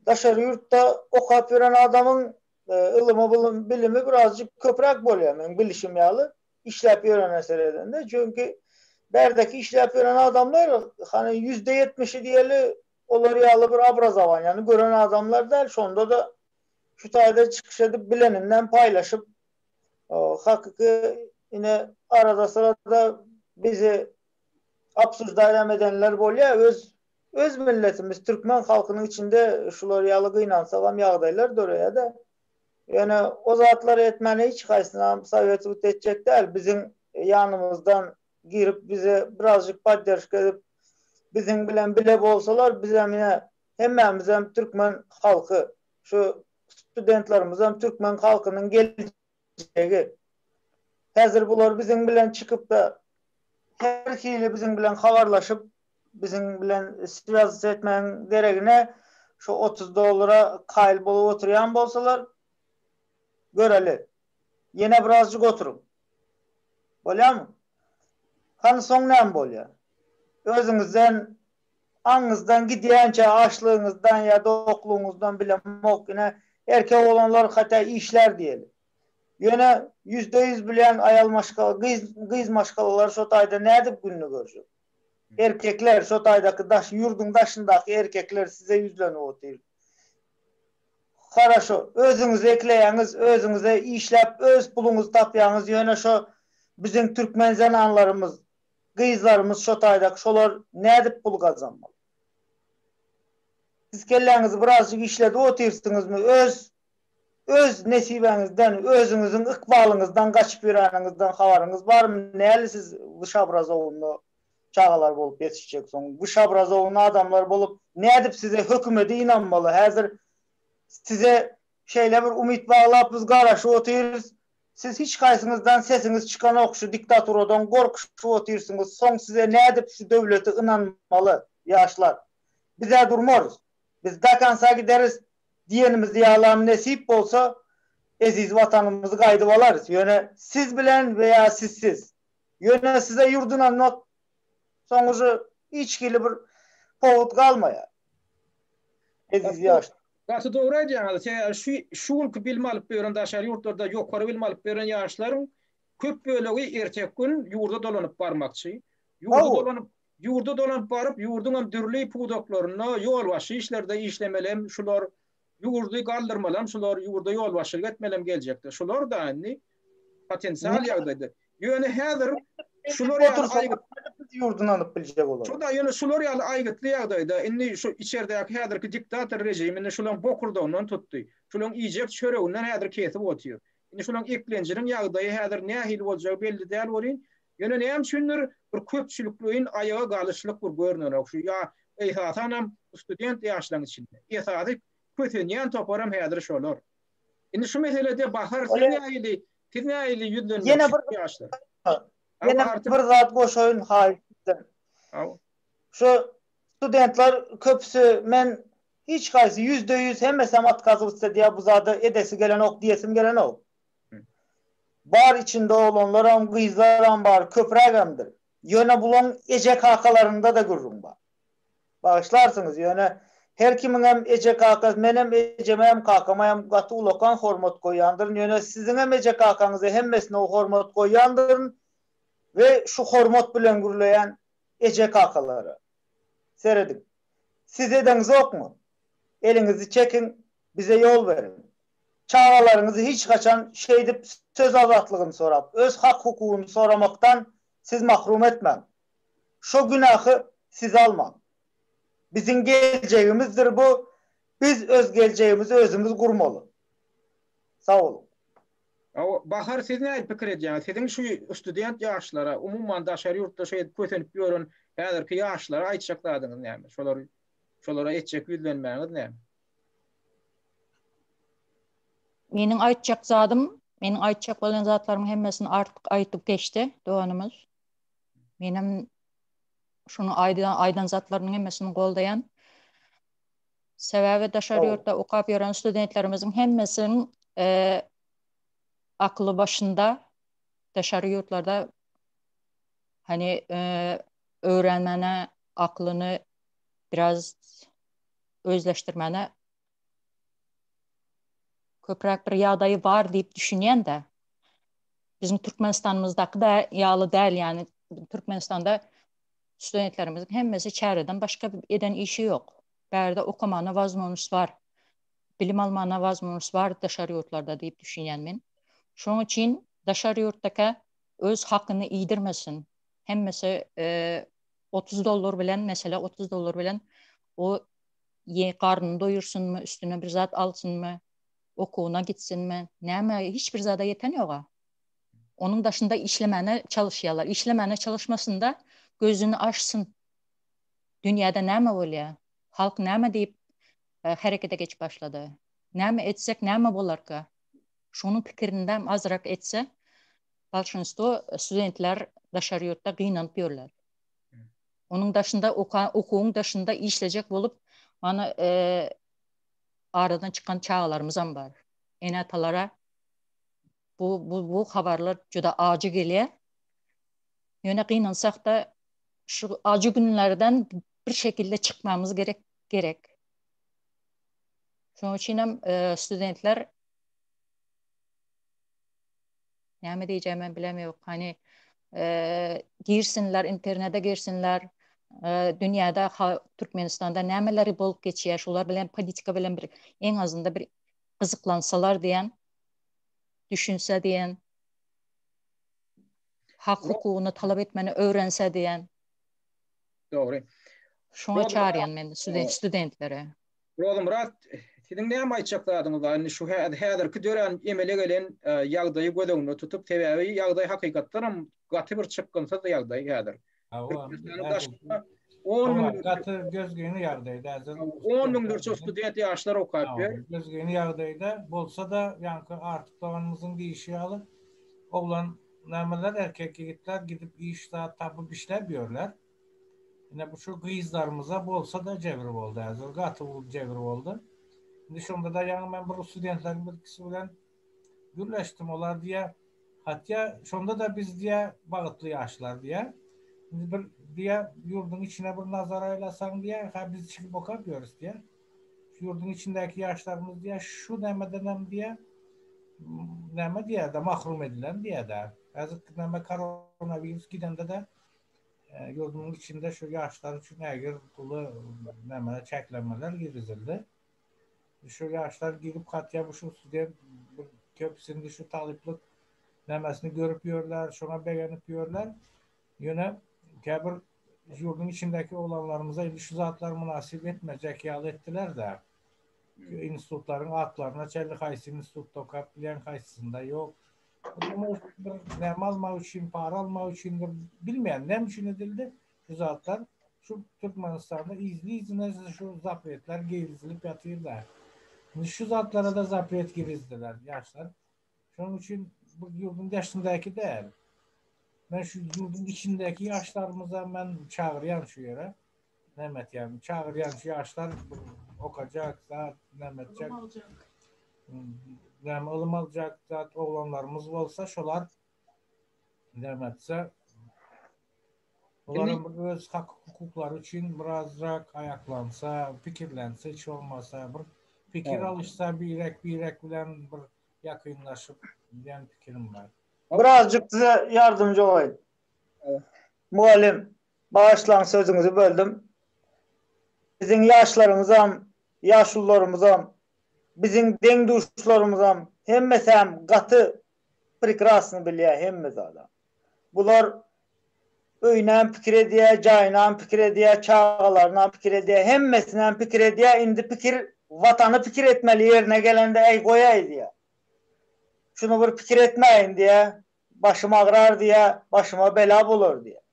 daşary ýurtda okap ýören adamyň ylymy bilimi birazjyk köpräk bolýar meň bilişim ýaly işläp ýörene seredende çünki bärdeki işläp ýören adamlar hany ýüzde ýetmişi diýeli olar ýaly bir obrazowaniýany gören adamlar däl şonda-da Şu taýda çykyş edip bilenini hem paýlaşyp, hakyky ine arada-syrada bizi obsuždaýar hem edenler bolýar. Öz öz milletimiz türkmen halkynyň içinde şular ýaly gynansagam ýagdaýlar döreýär-de. Ýöne o zatlary etmäniň hiç haýsynam soweti but etjek däl. Biziň ýanymyzdan girip bize birazjyk poddержка edip biziň bilen bile bolsalar bizem ine Hemmämizem türkmen halky, şu studentlerimizem türkmen halkynyň geljegi. Häzir bular biziň bilen çykyp-da, her hili biziň bilen habarlaşyp, biziň bilen swýazysy etmegiň deregine, şu otuz dollara kaýyl bolup oturýan bolsalar, göreli. Ýene birazjyk oturyň. Bolýamy? Hany soň näme bolýar? Özüňizden Aňyňyzdan gidýänçä açlygyňyzdan ýa doklugyňyzdan bilemok ine erkek oglanlar hata işlär diýeli. Ýöne ýüzde ýüz bilýän aýal maşgala gyz gyz maşgalalary şo taýda nädip gününi görjek. Erkekler şo taýdaky daş ýurduň daşyndaky erkekler size ýüzlenip otyr. Haraşo özüňiz ekleýäňiz özüňize işläp öz puluňyzy tapýaňyz ýöne şo biziň türkmen zenanlarymyz Gyzlarymyz şo taýdak şolar nädip pul gazanmaly. Siz kelläňizi birazjyk işledip otyrsyňyzmy öz öz nesibäňizden özüňiziň ykbalyňyzdan gaçyp ýöräniňizden habaryňyz barmy näli siz gyş abrazowyny çagalar bolup ýetişjeksoň gyş abrazowyny adamlar bolup nädip size hökümede ynanmaly häzir size şeýle bir umyt baglap biz garaşyp otyrys Siz hiç haýsyňyzdan sesiňiz çykanok şu diktaturadan gorkuşyp otyrsyňyz soň size nädip şu döwlete ynanmaly ýaşlar bizä durmarys biz dakansa gideris diýenimizde ýalam nesip bolsa eziz watanymyzy gaýdyp alarys ýöne siz bilen we ýa sizsiz ýöne size ýurt ynanmak soň uje hiç hili bir powut galmaýar. Eziz ýaş. Gaty dogry aýdýaňyz, sebäbi şu şu günki bilim alyp ýören daşary ýurtlarda ýokary bilim alyp ýören ýaşlaryň köp bölegi erteki gün ýurda dolanyp barmakçy. Ýurda dolanyp ýurda dolanyp baryp ýurduňam dürli pudaklarynda ýolbaşçy işlerde işlemeli hem şular Ýurdy galdyrmalam şular ýurda ýolbaşçylyk etmelem geljekde şular da indi potensial ýagdaýda ýöne häzir şular ýaly aýgyt ýurdyny alyp biljek olar. Şuda ýöne şular ýaly aýgytly ýagdaýda indi şu içerdäki häzirki diktator režimini şulaň bokurdagyndan tutdy. Şulaň iýjek çöreginden häzir kesip otyr. Indi şolaň eklenjiniň ýagdaýy häzir nähili boljagy belli däl welin, ýöne näme üçindir bir köpçülikleýin aýaga galyşlyk bir görnenok şu ýa esasanam student ýaşlaň içinde. Esasy kösenýän toparam häzir şolar. Indi şu meselede Bahar siz nähili siz nähili ýüzlenmek şu ýaşlar? Ýene bir zat goşaýyn haýyş sizden. Şu studentler köpüsi men Hiç haýsy ýüzde ýüz hemmesem otkazywtsa diýä bu zada edesi gelenok diýesim gelenok. Bar içinde oglanlaram gyzlaram bar köprägemdir. Ýöne bulaň eje kakalarynda-da gürrüň bar. Bagyşlarsyňyz ýöne her kimiňem eje kakasy menem ejemäm kakamäm gaty ulakan hormat goýýandyryn ýöne siziňem eje kakaňyza hemmesine hormat goýýandyryn we şu hormat bilen gürleýän eje kakalara. Serediň. Siz edeňizokmy? Eliňizi çekiň, bize ýol beriň. Çagalaryňyzy hiç haçan şeýdip söz azatlygyny sorap, öz hak-hukugyny soramakdan siz mahrum etmäň. Şo günähi siz almaň. Biziň geljegimizdir bu, biz öz geljegimizi özümiz gurmaly. Sag boluň. Bahar siz nädip pikir edýäňiz? Siziň şu student ýaşlara, umuman daşary ýurtda şeýdip kösenip ýören häzirki ýaşlara aýtjak zadyňyz näme? Şolar şolara etjek ýüzlenmäňiz näme? Meniň aýtjak zadym, meniň aýtjak bolan zatlarymyň hemmesini artyk aýdyp geçdi doganymyz. Menem şunu aýdan, aýdan zatlarynyň hemmesini goldaýan. Sebäbi daşary ýurtda okap ýören studentlerimiziň hemmesiniň akly başynda daşary ýurtlarda hani öwrenmäne aklyny biraz özleşdirmäne köpräk bir ýagdaýy bar diýip düşünýän-de. Biziň Türkmenistanymyzdaky da ýaly däl, ýani Türkmenistanda studentlerimiziň hemmesi çäreden başga eden işi ýok. Bärde okamana wazmonyş bar. Bilim almana wazmonyş bar daşary ýurtlarda diýip düşünýän men. Şoň üçin daşary ýurtdakä öz hakyny iýdirmesin. Hemmesi otuz dollar bilen, mesele otuz dollar bilen o ýe garnyny doýursynmy, üstüne bir zat alsynmy, okuwyna gitsinmi, näme hiç bir zada ýeten ýoga. Onuň daşynda işlemäne çalyşýarlar. Işlemäne çalyşmasynda gözüni açsyn. Dünýäde näme bolýar? Halk näme diýip herekete geçip başlady? Näme etsek näme bolarka? Şunuň pikirinidem azyrak etse, bolşunstwo studentler daşary ýurtda gynanyp ýörler. Onuň daşynda okan okuwyň daşynda işlejek bolup mana aradan çykan çagalarymyzam bar. Ene-atalara bu bu bu habarlar juda ajy gelýär. Ýöne gynansak-da şu acı günlerden bir şekilde çykmamyz gerek gerek. Şonuň üçin hem e, studentler näme diýjegimi men bilem ýok. Hani e, girsinler, internete girsinler. E, dünýäde Türkmenistanda nämeleri bolup geçýär, şular bilen politika bilen bir en azynda bir gyzyklansalar diýen düşünse diýen hak hukugyny talap etmeni öwrense diýen. Dogry. Şoňa çaryýan men studentlere. Rozymyrat, siziň näme aýtjak zadyňyz bar? Indi şu häzirki dörän emele gelen ýagdaýy göz öňünde tutup, sebäbi ýagdaý hakykatdanam gaty bir çykgynsyz ýagdaý häzir. Türkmenistanyň daşynda on müň gaty gözgyny ýagdaýda ýa-da on müňlerçe student ýaşlar okap ýör. Gözgyny ýagdaýda bolsa-da, ýaňky Artyk doganymyzyň diýşi ýaly, oglan nämeler, erkek ýigitler gidip iş zat tapyp işläp ýörler. Ine, bu şu gyzlarymyza bolsa-da jebir boldy, gaty uly jebir boldy. Indi şonda-da ýaňy men bir studentleriň birkisi bilen Gürleşdim olar diýýär. Hatýa şonda-da biz diýýär, bagytly ýaşlar diýýär. Indi bir diýýär, ýurduň içine bir nazar aýlasaň diýýär, hä biz çigip okap ýörüs diýýär. Şu ýurduň içindäki ýaşlarymyz diýýär, şu nämedenem diýýär, näme diýýär-de, mahrum edilen diýýär-de. Häzirki näme koronawirus gidende-de ýurdumyň içinde şu ýaşlar üçin ägirt uly näme, çäklenmeler girizildi. Şu ýaşlar girip hatda bu şu student bu köpüsini şu talyplyk namesini görüp ýörler, şoňa begenip ýörler. Ýöne käbir ýurduň içindäki oglanlarymyza indi şu zatlar mynasyp etmejek ýaly etdiler-de. Institutlaryň atlaryna çenli haýsy institutda okap bilýän, haýsysynda ýok. Näme almak üçin, para almak üçindir, bilmeýän näme üçin edildi. Şu zatlar şu Türkmenistanda yzly-yzyna şu zapretler girizilip ýatyr-da. Indi şu zatlara-da zapret girizdiler, ýaşlar. Şonuň üçin bu ýurduň deşindäki däl. Men şu ýurduň içindäki ýaşlarymyza men çagyrýan şu ýere. Näme etýän? Çagyrýan şu ýaşlar okajak, zat, näme etjek? Ylym aljak. Näme ylym aljak, zat, oglanlarymyz bolsa şolar näme etse, Olaram bir öz hak hukuklary üçin birazrak aýaklansa, pikirlense hiç bolmasa bir pikir alyşsa birek birek bilen bir ýakynlaşyp diýen pikirim bar. Birazjyk size ýardamjy bolaýyn. Mugallym, bagyşlaň sözüňizi böldüm. Biziň ýaşlarymyzam, ýaşulularymyzam, biziň deň-duşlarymyzam hemmesem gaty Prekrasny bilýär hemme zada. Bular öýünem pikir edýär, jaýynam pikir edýär, çagalarynam pikir edýär, hemmesinem pikir edýär, indi pikir Watany pikir etmeli ýerine gelende äý goýaý diýýär. Şuny bir pikir etmäýin diýýär, başym agrar diýýär, başyma bela bolar diýýär.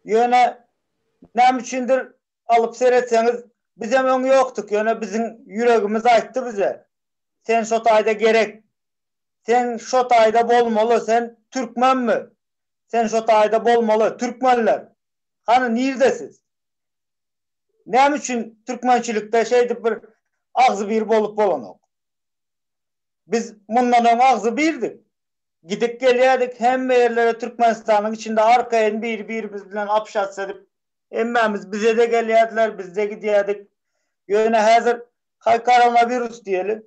Ýöne näme üçindir Alyp seretseňiz bizem öň ýokduk ýöne biziň ýüregimiz aýtdy bize sen şo taýda gerek sen şo taýda bolmaly sen türkmenmi sen şo taýda bolmaly türkmenler hany nirde siz näme üçin türkmençilikde şeýdip bir agzy bir bolup bolanok biz mundan öň agzy birdik gidip gelýädik hemme ýerlere türkmenistanyň içinde arkaýyn biri birimiz bilen apşatsiýa edip Hemmämiz bize-de gelýärdiler, biz-de gidýärdik. Ýöne häzir haý koronawirus diýeli,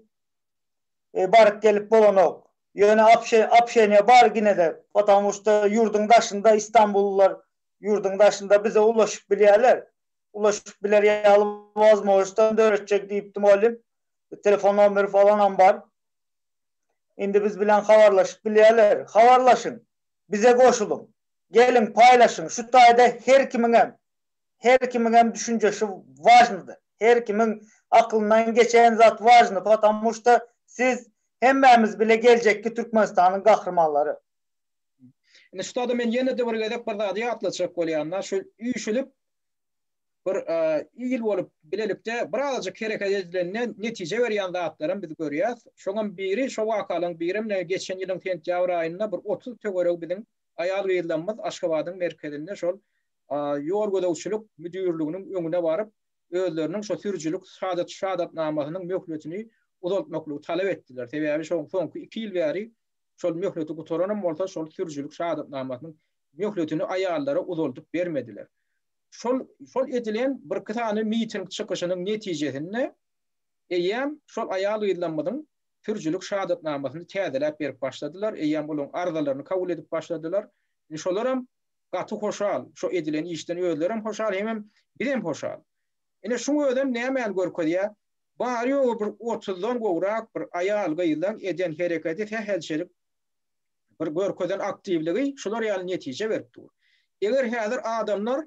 baryp gelip bolanok. Ýöne opşeniýa bar gine-de, potamu şta ýurduň daşynda istanbullylar ýurduň daşynda bize ulaşyp bilýärler. Ulaşyp biler ýaly wozmožnostam döretjek diýipdi mugallym. Telefon nomeri falanam bar. Indi biz bilen habarlaşyp bilýärler. Habarlaşyň! Bize goşulyň! Geliň paýlaşyň şu taýda her kimiňem her kimiňem düşünjeşi wažnydy her kimiň aklyndan geçen zat wažny potamu şda siz hemmämiz bile geljekki Türkmenistanyň gahrymanlary. Indi şu taýda men ýenede bir gezek bir zady ýatlatjak bolýan da şul üýşülip bir il bolup bilelikde birazajyk hereket edilende netije berýän zatlaram biz görýäs. Şoňam biri şo wakalaryň birem ne geçen ýylyň sentýabr aýynda bir otuz töweregi biziň aýal-gyzlarymyz Aşgabadyň merkezinde şol ýol gözegçilik müdirliginiň öňüne baryp, özleriniň şo sürüjilik şahadatnamasynyň möhletini uzaltmaklygy talap etdiler. Sebäbi şo soňky iki ýyl bäri şol möhleti gutaranam bolsa şol sürüjilik şahadatnamasynyň möhletini aýallara uzaldyp bermediler. Şol şol edilen birki sany miting çykyşynyň netijesinde eýýäm şol aýal-gyzlarymyzyň sürüjilik şahatnamasyny täzeläp berip başladylar, eýýäm olaryň arzalaryny kabul edip başladylar. Indi şolaram gaty hoşal, şo edilen işden özlerem hoşal hemem bizem hoşal. Ine şuň özem nämäni görkezýär? Bary-ýogy bir otuzdan gowrak bir aýal-gyzlaň eden hereketi sähelçelik bir görkezen aktiwligi şular ýaly netije berip dur. Eger häzir adamlar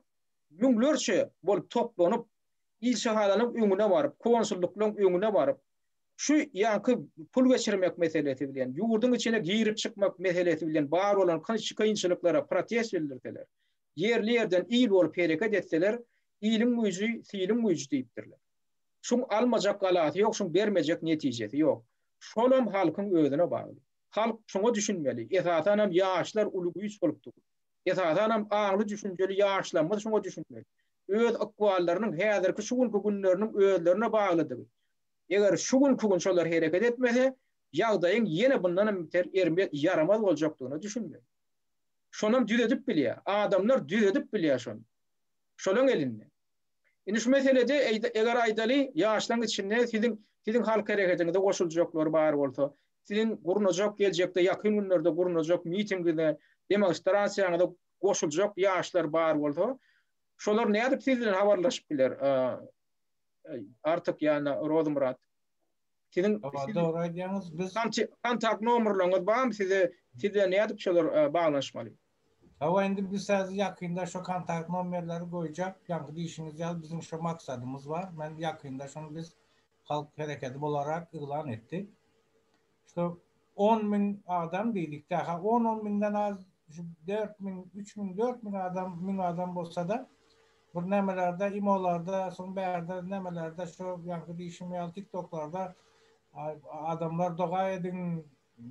müňlerçe bolup toplanyp, ilçihananyň öňüne baryp, konsullyklaryň öňüne baryp, şu ýaňky pul geçirmek meselesi bilen, ýurduň içine girip-çykmak meselesi bilen bar bolan kynçylyklara protest bildirseler, ýerli-ýerden il bolup hereket etseler, iliň güýji, siliň güýji diýipdirler. Şuň almajak galasy ýok, şuň bermejek netijesi ýok. Şolam halkyň özüne bagly. Halk şoňa düşünmeli, esasanam ýaşlar uly güýç bolup dur. Esasanam aňly düşünjeli ýaşlamyz şoňa düşünmeli. Öz ykballarynyň häzirki şu günki günleriniň özlerine baglydygy. Eger şu günki gün şolar hereket etmese, ýagdaýyň ýene bundanam beter ermez, ýaramaz boljakdygyna düşünmeli. Şonam düzedip bilýär. Adamlar düzedip bilýär şony. Şolaň elinde. Indi şu meselede eger aýdaly, ýaşlaryň içinde siziň siziň halk hereketiňize goşuljaklar bar bolsa, siziň gurnajak geljekde ýakyn günlerde gurnajak mitingiňize, demonstrasiýaňyza goşuljak ýaşlar bar bolsa, şolar nädip siz bilen habarlaşyp biler? Artyk ýa-da Rozymyrat. Siziň dogry aýdýaňyz. Biz kontakt nomerleriňiz barmy size siz bilen nädip şolar baglanyşmaly? Hawa indi biz häzir ýakynda şo kontakt nomerleri goýjak. Ýaňky diýşiňiz ýaly biziň şo maksadymyz bar. Men ýakynda şony biz halk hereketi bolarak yglan etdik. Şo On müň adam diýilikde, ha, on, on müňden az, şu dört müň, üç müň, dört müň adam, müň adam bolsa-da, bir nämelerde, imolarda, soň bärde, nämelerde, şu ýaňky diýşim ýaly, tiktoklarda adamlar doga ediň,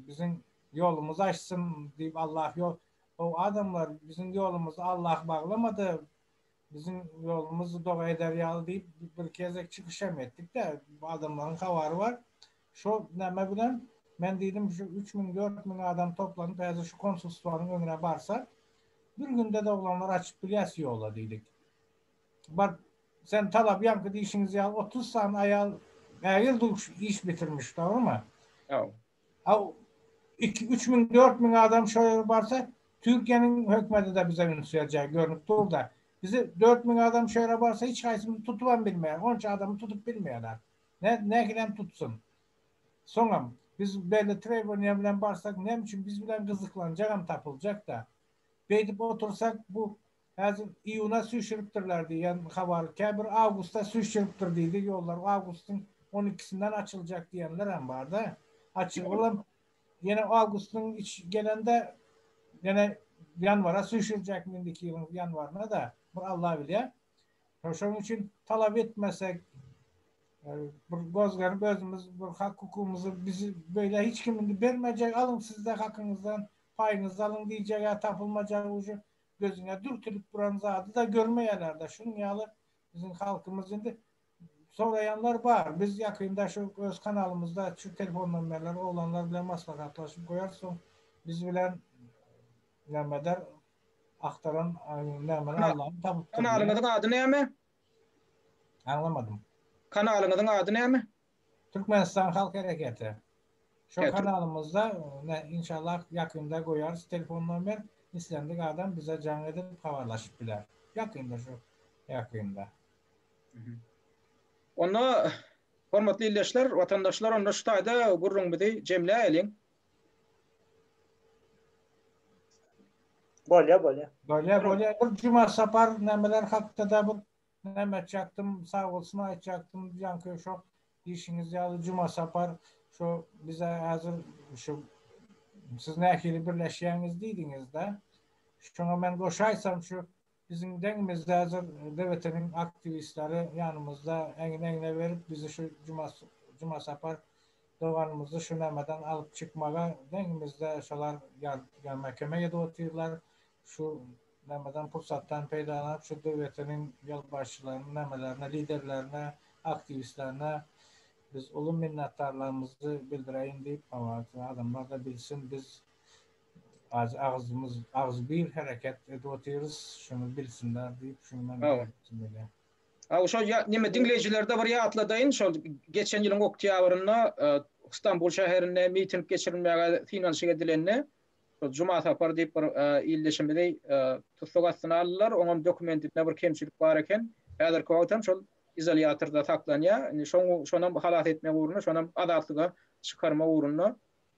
biziň ýolumyz açsyn diýip, Allah ýo, o adamlar, biziň ýolumyzy Allah baglamady, Biziň ýolumyz doga eder ýaly diýip bir gezek çykyş hem etdik-de, adamlaryň habary bar. Şo näme bilen, men diýdim, şu üç müň, dört müň adam toplanyp, häzir şu konsulstwanyň öňüne barsa, bir günde-de oglanlar açyp bilýäs ýola diýdik. Baryp, sen talabýaňky diýşiňiz ýaly otuz sany aýal ägirt uly iş bitirmiş, dogrymy? Ýok. A iki, üç müň, dört müň adam şo ýere barsa, Türkiýäniň hökümeti-de bize üns berjek, görnüp dur-da. Bizi dört müň adam şo ýere barsa, hiç haýsymyzy tutubam bilmeýär. Onça adamy tutup bilmeýärler. Nä, nähilem tutsun? Soňam, biz belli trewbaniýa bilen barsak, näme üçin biz bilen gyzyklanjagam tapyljak-da. Beýdip otursak, bu Häzir iýuna süýşüripdirler diýen habar, käbir awgusta süýşüripdir diýdi, ýollar awgustyň on ikisinden açyljak diýenlerem bar-da. Açygy bolam, ýene awgustyň iç gelende ýene ýanwara süýşürjekmi indiki ýylyň ýanwaryna-da, bir Alla bilýär. Şonuň üçin talap etmesek, bir göz gerip özümiz bir hak-hukugymyzy bizi beýle hiç kim indi bermejek, alyň siz-de hakyňyzdan, paýyňyzy alyň diýjeg-ä tapylmajak ujy. gözüňe dürtülip duran zady-da görmeýärler-de. Şunuň ýaly biziň halkymyz indi soraýanlar bar. Biz ýakynda şu öz kanalymyzda şu telefon nomerleri oglanlar bilen maslahatlaşyp goýarys. Soň biz bilen näme eder, agtaran nämeni Allam tapypdyr. Kanalyňyzyň ady näme? Aňlamadym. Kanalyňyzyň ady näme? Türkmenistan halk hereketi. Şo kanalymyzda inşallah ýakynda goýarys telefon nomer, islendik adam bize jaň edip habarlaşyp biler. Ýakynda şo ýakynda. Onda hormatly ildeşler, watandaşlar onda şu taýda gürrüňimizi jemläýeliň. Bolýa bolýa. Bolýa bolýa. Bir juma sapar nämeler hakda-da bir Näme aýtjakdym, sag bolsun aýtjakdym, ýaňky şo diýşiňiz ýaly Jumasapar şo bize häzir şu siz nähili birleşýäňiz diýdiňiz-dä. Şoňa men goşaýsam şu biziň deňimizde häzir DBT-niň aktiwistleri ýanymyzda egin-egne berip bizi şu Jumasapar doganymyzy şu nämeden alyp çykmaga deňimizde şolar ýa mäkeme edip otyrlar Şu nämedan pursatdan peýdalanyp şu döwletiniň ýolbaşçylaryna, nämelerine, liderlerine, aktiwistlerine biz uly minnetdarlygymyzy bildireýin diýip, hawa, adamlar-da bilsin, biz azy agzymyz, agzybir hereket edip otyrys, şuny bilsinler diýip, şuny men aýtgym gelýär. Hawa, şol ýa, neme, diňleýjilerde bir ýatladaýyn, şol geçen ýylyň oktýabrynda Stambul şäherinde miting geçirilmäge synanyşyk edilende, Juma Sapar diýip bir ildeşimizi tussag astyna aldylar. Oňam dokumentinde bir kemçilik bar eken. Häzirki wagt hem şol izolýatorda saklanýar. Indi şonam halas etmek ugrunda, şonam azatlyga çykarmak ugrunda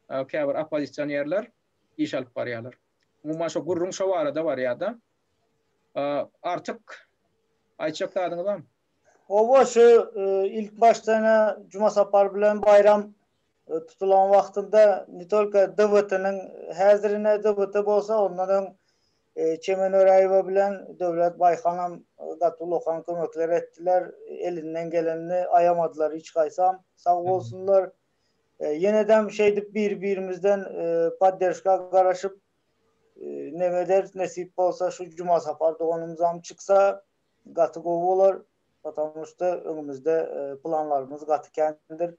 käbir oppozisionerler iş alyp barýarlar. Umuman şo gürrüň şo barada barýar-da. Artyk aýtjak zadyňyz barmy? Oba şu ilk başdan-a Juma Sapar bilen baýram tutulan wagtynda ne tolko DWT-niň häzirine DWT bolsa ondan öň Çemen Öräýewa bilen Döwlet Baýhanam gaty ulakan kömekler etdiler. Elinden gelenini aýamadylar hiç gaýsam. Sag bolsunlar. Ýenedem şeýdip bir-birimizden podderşka garaşyp neňe ederis nesip bolsa şu Juma Sapar doganymyzam çyksa Gaty gowy bolar, patamu şda öňümizde planlarymyz gaty kändir.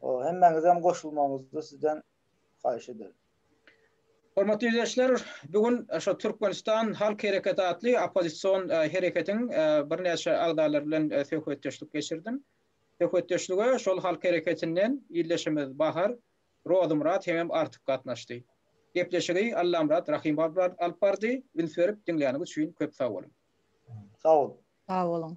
Hemmäňizem goşulmagyňyzy sizden haýyş ederin. Hormatly ýüzleşler, bu gün şu Türkmenistan halk hereketi atly oppozision hereketiň birnäçe agzalary bilen söhbetdeşlik geçirdim. Söhbetdeşlige şol halk hereketinden ildeşimiz Bahar Rozymyrat hemem artyk gatnaşdy. Gepleşigi Allamyrat Rahymow alyp bardy. Üns berip diňläniňiz üçin köp sag boluň. Sag boluň. Sag boluň.